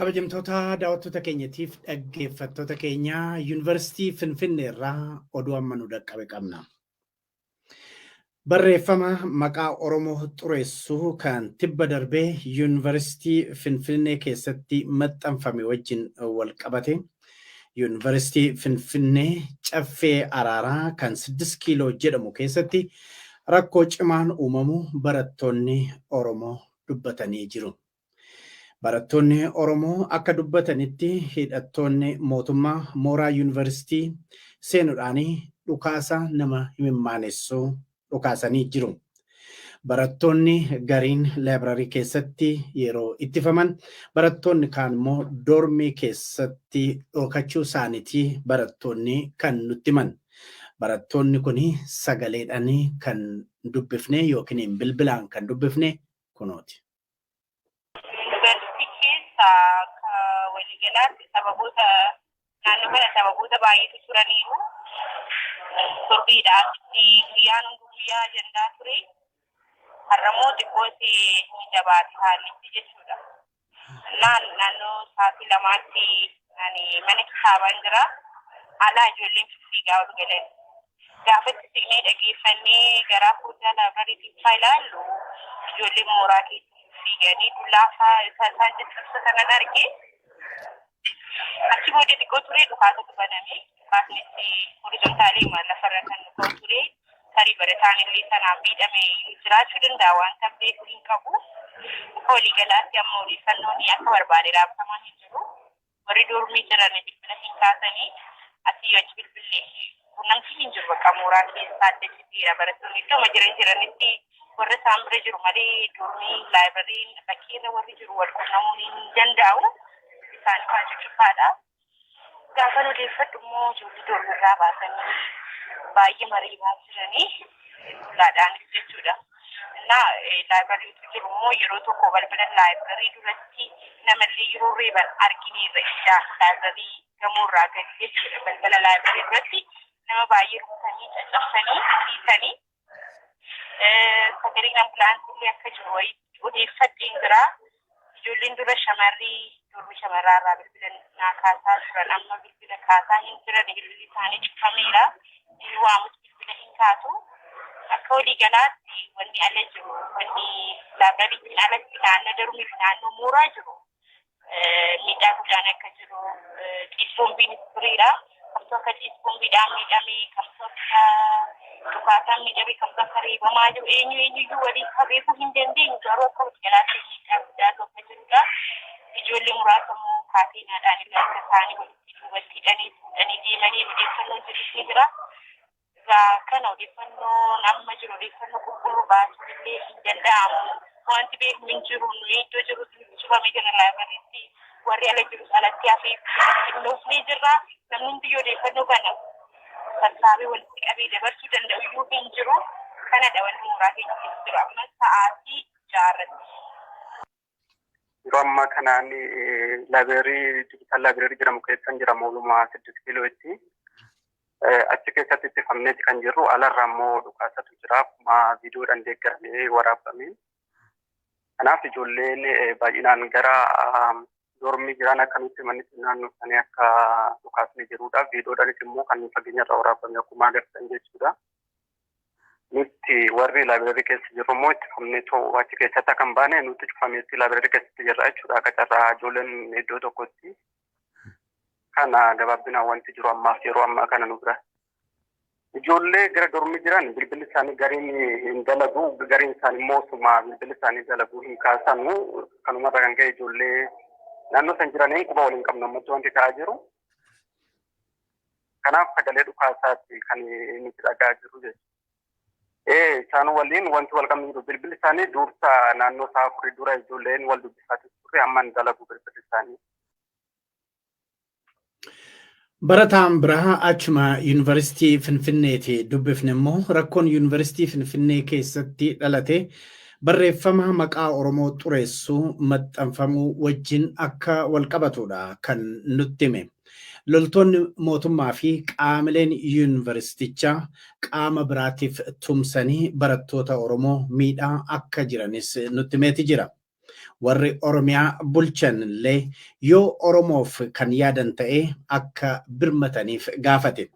Kabajamtoota daawwattoota keenyatiif dhaggeeffattoota keenya yuunivarsiitii Finfinnee irraa oduu amma nu dhaqqabe qabna. Barreeffama maqaa Oromoo xureessu kan tibba darbe Yuunivarsiitii Finfinnee keessatti maxxanfame wajjin wal qabate Yuunivarsiitii Finfinnee Caffee Araaraa kan Siddis Kiiloo jedhamu keessatti rakkoo cimaan uumamu barattoonni Oromoo dubbatanii jiru. Barattoonni Oromoo akka dubbatanitti hidhattoonni mootummaa mooraa yuunivarsiitii seenudhaan dhukaasa nama himimmaanessu dhukaasanii jiru. Barattoonni gariin laayibrarii keessatti yeroo ittifaman barattoonni kaan immoo doormii keessatti dhokachuu isaaniiti barattoonni kan nutti himan. Barattoonni kun sagaleedhaan kan dubbifne yookiin bilbilaan kan dubbifne kunooti. Yuunivarsiitii keessa akka waliigalaatti sababoota naannoo kana sababoota baay'eetu turaniiru. Turbiidhaaf guyyaan hundi guyyaa ajandaa ture. Har'ammoo xiqqootti ni jabaate haallichi jechuudha. Naan naannoo sa'aatii lamaatti ani mana kitaabaan jira. Alaa ijoolleen fiigaa ol galan. Gaafatti siqnee dhageeffannee garaa foddaa laabrarii keessaa ilaallu ijoolleen mooraa keessa fiiganii dullaa fa'aa isa isaan jechisiisu kanan arge. Achi booda xiqqoo turee dhukaasatu baname. Dhukaasni itti horizontaalii maal lafarra kan nu ka'u ture. Tarii barataan illee sanaan miidhame jiraachuu danda'a waan kan beeku hin qabu. Akka waliigalaatti amma odeeffannoon akka barbaade raabsamaa hin jiru. warri doormii jiran bilbila hin kaasanii asii achi bilbillee quunnamtii hin jiru bakka mooraa keessaa adda citeera barattoonni iddoo jiran jiranitti warra isaan bira jiru malee doormii laayibariin bakkeerra warri jiru wal quunnamuun hin danda'u isaan kaan cufaadha. Gaafan odeeffadhu immoo ijoollee doormirraa baasanii baay'ee mariimaa jiranii laadhaan jechuudha. Innaa laayibirariitu jiru immoo yeroo tokko balbala laayibirarii duratti namallee yeroo reeban argineerra ijaa laayibirarii gamoorraa gadi jechuudha balbala laayibirarii duratti nama baay'ee rukutanii caccabsanii dhiisanii sagaleen ambulaansii akka jiru wayii odeeffadheen jira. Ijoolleen dura shamarri dormi shamarraa irraa bilbila naa kaasaa turan amma bilbila kaasaa hin jiran bilbilli isaanii cufameera. Inni waamus bilbila hin kaasu. Akka walii galaatti wanni ala jiru wanni laabrariitiin alatti naannoo dormii fi naannoo mooraa jiru miidhaa guddaan akka jiru xiiqboombiin furiira. Kamtoota ciisquun bidhaan miidhame, kamtoota dhukaasaan miidhame, kamtoota reebamaa jiru eenyu eenyuyyuu waliin isaa beekuu hin dandeenyu garuu akka waliigalaatti miidhaa guddaa tokko jirudha. Ijoollee muraasa immoo kaateenaadhaan illee akka isaanii walitti duubatti hidhanii fuudhanii deemanii odeeffannoon jirus ni jira. Egaa kana odeeffannoon amma jiru odeeffannoo qulqulluu baasuun illee hin danda'amu. Wanti beeknu hin jiru. Nuyi iddoo jirrutti nutti cufamee jira laayibirariitti. Warri ala jirus alatti hafee qindoofnee jirra. Namni hundiyyu odeeffannoo kana sassaabee walitti qabee dabarsuu danda'u iyyuu hin jiru. Kanadha wanti mooraa keenya keessa jiru ammas sa'aatii ja'a irratti. Yeroo ammaa kanaan laabireerii digital laabireerii jedhamu keessan jira mooluma siddis kiilootti. Achi keessatti itti fufneeti kan jirru alarra ammoo dhukaasatu jira akkuma viidiyoodhaan deeggaramee waraabame. Kanaaf ijoolleen baay'inaan gara dormii jiran akka nutti himanitti naannoo isaanii akka dhukaasni jirudha. Viidiyoodhaanis immoo kan fageenyarra waraabame akkuma agartan jechuudha. Nutti warri laabireerii keessa jirru immoo itti fufnee too achi keessatti akka hin baane nutti cufameetti laabireerii keessatti jirra jechuudha. Akka carraa ijoolleen iddoo tokkotti kana gabaabinaan wanti jiru ammaaf yeroo ammaa kana nu bira. Ijoollee gara dormii jiran bilbilli isaanii gariin hin dalagu gariin isaanii immoo osuma bilbilli isaanii dalagu hin kaasanu kanumarra kan ka'e ijoollee naannoo san jiraniin quba waliin qabnu ammatti wanti ta'aa jiru. Kanaaf sagalee dhukaasaatti kan nuti dhagaa jiru jechuudha. Isaan waliin wanti wal qabne jiru bilbilli isaanii duursa naannoo isaa afurii dura ijoolleen wal dubbifaatu turre amma hin dalagu bilbilli isaanii. Barataan biraa achuma yuunivarsiitii Finfinneeti dubbifne immoo rakkoon yuunivarsiitii Finfinnee keessatti dhalate barreeffama maqaa Oromoo xureessu maxxanfamuu wajjin akka wal qabatudha kan nutti hime. Loltoonni mootummaa fi qaamileen yuunivarsiitichaa qaama biraatiif tumsanii barattoota Oromoo miidhaa akka jiranis nutti himeeti jira. Warri Oromiyaa bulchan illee yoo Oromoof kan yaadan ta'e akka birmataniif gaafate.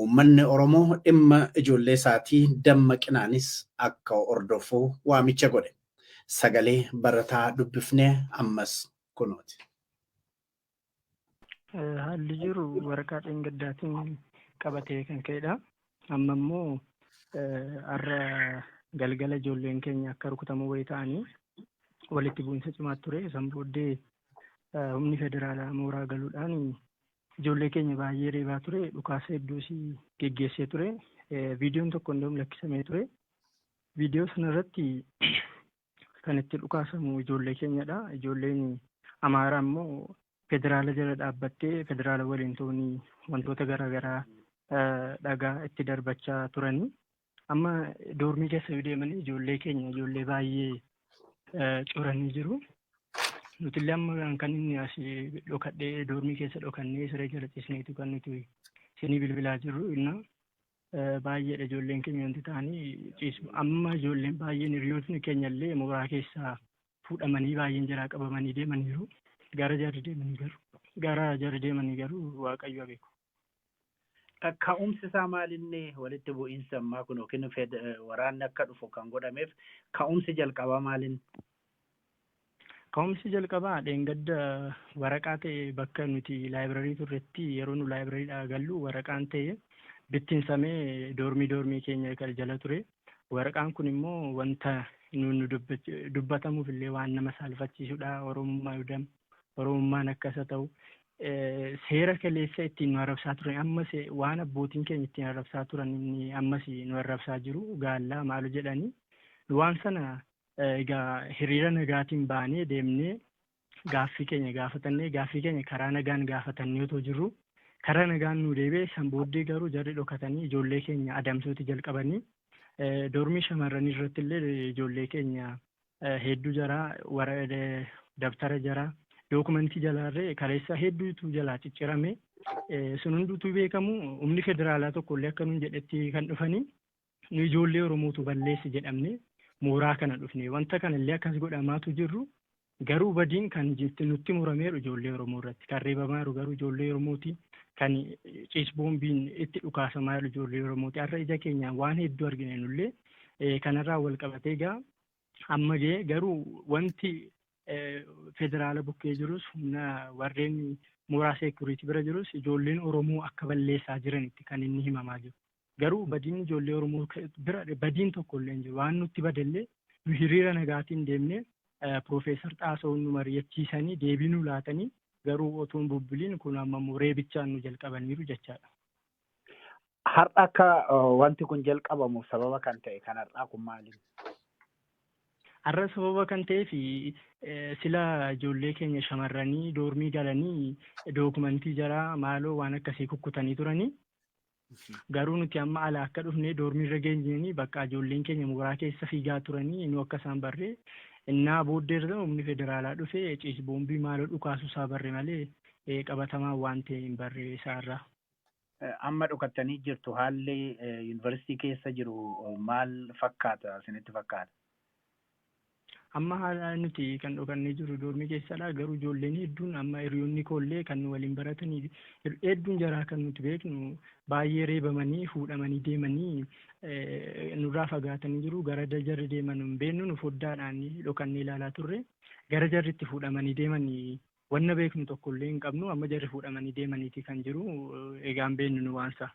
Uummanni Oromoo dhimma ijoollee isaatii dammaqinaanis akka hordofu waamicha godhe. Sagalee barataa dubbifne ammas kunooti. Haalli jiru waraqaa dheengaddaatiin qabatee kan ka'edha. Amma immoo har'a galgala ijoolleen keenya akka rukutamoo wayii ta'anii walitti bu'iinsa cimaa ture. San booddee humni federaalaa mooraa galuudhaan ijoollee keenya baay'ee reebaa ture. Dhukaasa hedduus geggeessee ture. Viidiyoon tokko hundum lakkisamee ture. Viidiyoo sanarratti kan itti dhukaasamu ijoollee keenyadha. Ijoolleen Amaaraa immoo federaala jala dhaabbattee federaala waliin ta'uun wantoota garaagaraa dhagaa itti darbachaa turanii. Amma doormii keessa yoo deeman ijoollee keenya ijoollee baay'ee coranii jiru. Nutillee amma kan inni as dhokadhee doormii keessa dhokannee siree jala ciisneetu kan nuti isinii bilbilaa jirru innaa Baay'eedha ijoolleen keenya wanti ta'anii ciisu. Amma ijoolleen baay'een hiriyootni keenya illee mooraa keessaa fuudhamanii baay'een jaraa qabamanii deemaniiru. Gara jarri deemanii garuu gara jarri deemanii garuu waaqayyo haa beeku. Ka'umsi isaa maalinni walitti bu'iinsa ammaa kun yookiin waraanni akka dhufu kan godhameef ka'umsi jalqabaa maalin? Ka'umsi jalqabaa dheengadda waraqaa ta'e bakka nuti laayibirarii turretti yeroo nu laayibirariidhaa gallu waraqaan ta'e bittinsamee doormii doormii keenya kan jala ture. Waraqaan kun immoo wanta nuun nu dubbach- dubbatamuuf illee waan nama saalfachiisudha. Oromummaa yudam, Oromummaan akka isa ta'u. Eh, Seera kaleessa ittiin nu arrabsaa turan ammas eh, waan abbootiin keenya ittiin arrabsaa turan inni ammas nu arrabsaa jiru gaallaa maalo jedhanii waan sana Egaa hiriira nagaatiin baanee deemnee gaaffii keenya gaafatannee gaaffii keenya karaa nagaan gaafatannee otoo jirru karaa nagaan nu deebi'e san booddee garuu jarri dhokatanii ijoollee keenya adamsuuti jalqabanii doormii shamarranii irratti illee ijoollee keenya hedduu jaraa wara dabtara jaraa dookumentii jalaarree kaleessa hedduutu jalaa ciccirame sun hunduutu beekamu humni federaalaa tokko illee akka nuun jedhetti kan dhufanii Nu ijoollee Oromootu balleesse jedhamne mooraa kana dhufne. Wanta kana illee akkas godhamaatu jirru garuu badiin kan jirti nutti murameeru ijoollee Oromoo irratti. Kan reebamaa jiru garuu ijoollee Oromooti. Kan ciis boombiin itti dhukaasamaa jiru ijoollee Oromooti. Har'a ija keenyaan waan hedduu argine nullee Eh, kanarraa wal qabatee egaa amma ga'e garuu wanti eh, federaala bukkee jirus humna warreen mooraa seekuriitii bira jirus ijoolleen Oromoo akka balleessaa jiranitti kan inni himamaa jiru. Garuu badiin ijoollee Oromoo bira badiin tokko illee hin jiru. Waan nutti bade illee nu hiriira nagaatiin deemnee Piroofeesar Xaasahuun nu mari'achiisanii deebii nu laatanii garuu otuu hin bubbuliin kun amma immoo reebichaan nu jalqabaniiru jechaadha. Har'a akka wanti kun jalqabamuuf sababa kan ta'e kan har'aa kun maali? Har'a sababa kan ta'eef sila ijoollee keenya shamarranii doormii galanii dookumentii jaraa maaloo waan akkasii kukkutanii turanii Garuu nuti amma alaa akka dhufnee doormii irra geenyeenii bakka ijoolleen keenya mooraa keessa fiigaa turanii nu akka isaan barree innaa booddee irra humni federaalaa dhufe ciis boombii maaloo dhukaasuu isaa barre malee eh, qabatamaa waan ta'e hin barre isaarraa. Amma dhokattanii jirtu haalli eh, yuunivarsiitii keessa jiru eh, maal fakkaata isinitti fakkaata? Amma haala nuti kan dhokannee jirru doormii keessadha. Garuu ijoolleen hedduun amma hiriyoonni koollee kan nu waliin baratanii hedduun jaraa kan nuti beeknu baay'ee reebamanii fuudhamanii deemanii eh, nurraa fagaatanii jiru. Gara da- jarri deeman hin beeknu nu foddaadhaan dhokannee ilaalaa turre. Gara jarri itti fuudhamanii deemanii wanna beeknu tokkollee hin qabnu. Amma jarri fuudhamanii deemaniiti kan jiru. Eh, Egaa hin beeknu nu waansa.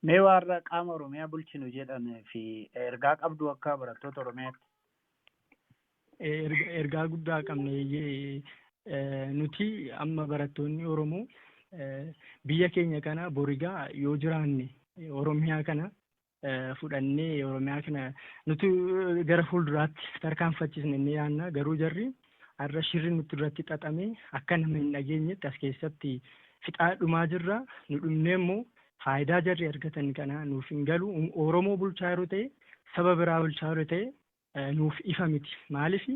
Mee warra qaama Oromiyaa bulchinu jedhan fi ergaa qabdu akka barattoota Oromiyaatti? Ergaa guddaa qabneeyyee nuti amma barattoonni Oromoo biyya keenya kana borigaa yoo jiraanne Oromiyaa kana fudhannee Oromiyaa kana nuti gara fuulduraatti tarkaanfachiisne ni yaanna garuu jarri Har'a shirri nutti irratti xaxame akka nama hin dhageenyetti as keessatti fixaa dhumaa jirra. Nu dhumnee immoo faayidaa jarri argatan kana nuuf hin galu. Oromoo bulchaa yeroo ta'e saba biraa bulchaa yeroo ta'e nuuf ifa miti. Maaliif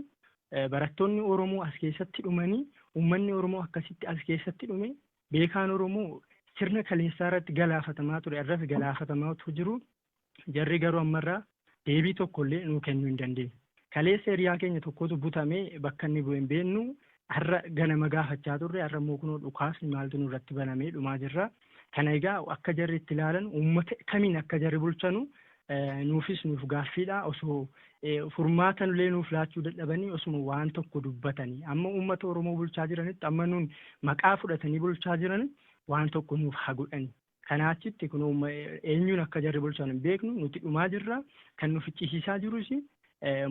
barattoonni Oromoo as keessatti dhumanii uummanni Oromoo akkasitti as keessatti dhume beekaan Oromoo sirna kaleessaa irratti galaafatamaa ture irras galaafatamaa jiru Jarri garuu ammarraa deebii tokkollee nuu kennuu hin dandeenye. Kaleessa hiriyaa keenya tokkotu butamee bakka inni bu'e hin beeknu. Har'a ganama gaafachaa turre har'a immoo kunoo dhukaasni maaltu nurratti banamee dhumaa jirra. Kana egaa akka jarri itti ilaalan uummata kamiin akka jarri bulchanu nuufis nuuf gaaffiidha. Osoo furmaata illee nuuf laachuu dadhabanii osuma waan tokko dubbatanii amma uummata Oromoo bulchaa jiranitti amma nuun maqaa fudhatanii bulchaa jiran waan tokko nuuf haa godhani. Kanaa achitti kun eenyuun akka jarri bulchan hin beeknu nuti dhumaa jirra. Kan nu ficcisiisaa jirus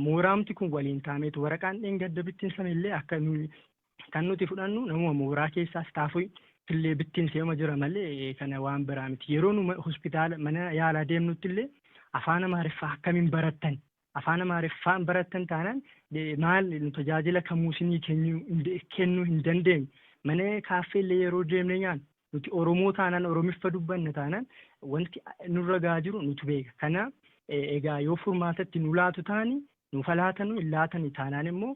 mooraamti kun waliin taameetu waraqaan dheengadda bittinsame illee akka kan nuti fudhannu namuma mooraa keessaa istaafii illee bittinseema jira malee kana waan biraa miti. Yeroo nu hospitaala mana yaalaa deemnutti illee afaan amaariffaa akkamiin barattan Afaan Amaariffaa hin barattan taanaan maal nu tajaajila kamuu isinii kennuu hin dandeenyu. Mana kaaffee illee yeroo deemnee nyaannu nuti Oromoo taanaan Oromiffa dubbanna taanaan wanti nurra gahaa jiru nutu beeka. Kana egaa yoo furmaata itti nu laatu taani nuuf haa laatanu hin laatani taanaan immoo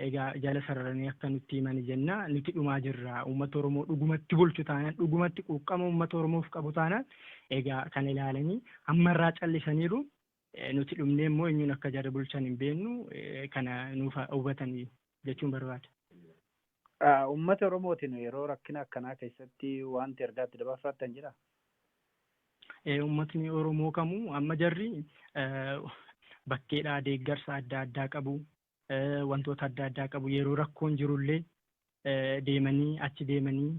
egaa jala sararanii akka nutti himani jenna nuti dhumaa jirra uummata Oromoo dhugumatti bulchu taanaan dhugumatti quuqqama uummata Oromoof qabu taanaan egaa kana ilaalanii hammarraa callisaniiru Nuti dhumnee immoo eenyuun akka jara bulchan hin beennu kana nuuf hubatanii jechuun barbaada. Uummata Oromootiin yeroo rakkina akkanaa keessatti wanti ergaatti dabarfattan jira? Uummatni Oromoo kamuu amma jarri bakkeedhaa deeggarsa adda addaa qabu. Wantoota adda addaa qabu. Yeroo rakkoon jirullee deemanii achi deemanii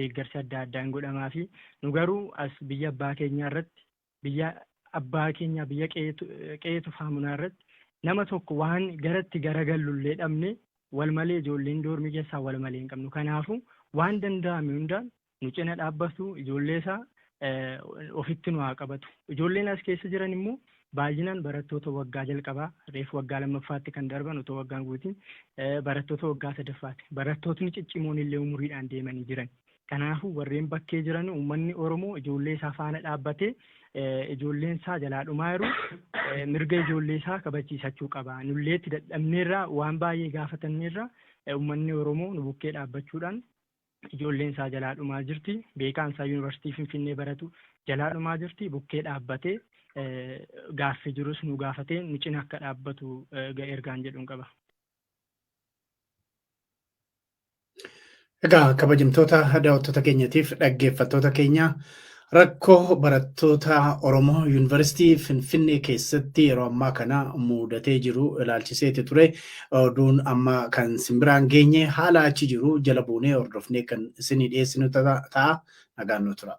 deeggarsi adda addaa hin godhamaa fi nu garuu as biyya abbaa keenyaa irratti biyya abbaa keenyaa biyya qe'ee tufaa munaa irratti nama tokko waan garatti garagallu illee dhabne wal malee ijoolleen doormii keessaa wal malee hin qabnu kanaafuu waan danda'ame hundaan nu cina dhaabbatu ijoollee isaa ofitti nu haa qabatu ijoolleen as keessa jiran immoo baay'inaan barattoota waggaa jalqabaa reef waggaa lammaffaatti kan darban otoo waggaan guutiin barattoota waggaa sadaffaati barattootni cicciimoon illee umuriidhaan deemanii jiran Kanaafuu warreen bakkee jiran uummanni Oromoo ijoollee isaa faana dhaabbatee ijoolleen isaa jalaa dhumaa jiru mirga ijoollee isaa kabachiisachuu qaba. Nullee itti dadhabneerra waan baay'ee gaafatanneerra uummanni Oromoo nu bukkee dhaabbachuudhaan ijoolleen isaa jalaa dhumaa jirti. Beekaan isaa yuunivarsiitii Finfinnee baratu jalaa dhumaa jirti. Bukkee dhaabbatee gaaffii jirus nu gaafatee nu cina akka dhaabbatu ergaan jedhuun qaba. Egaa kabajamtoota daawwattoota keenyatiif dhaggeeffattoota keenya rakkoo barattoota Oromoo Yuunivarsiitii Finfinnee keessatti yeroo ammaa kana muudatee jiru ilaalchiseeti ture. Oduun amma kan simbiraan geenye haala achi jiru jala buunee hordofnee kan isinii dhiyeessinu ta'a. Nagaan nu tura.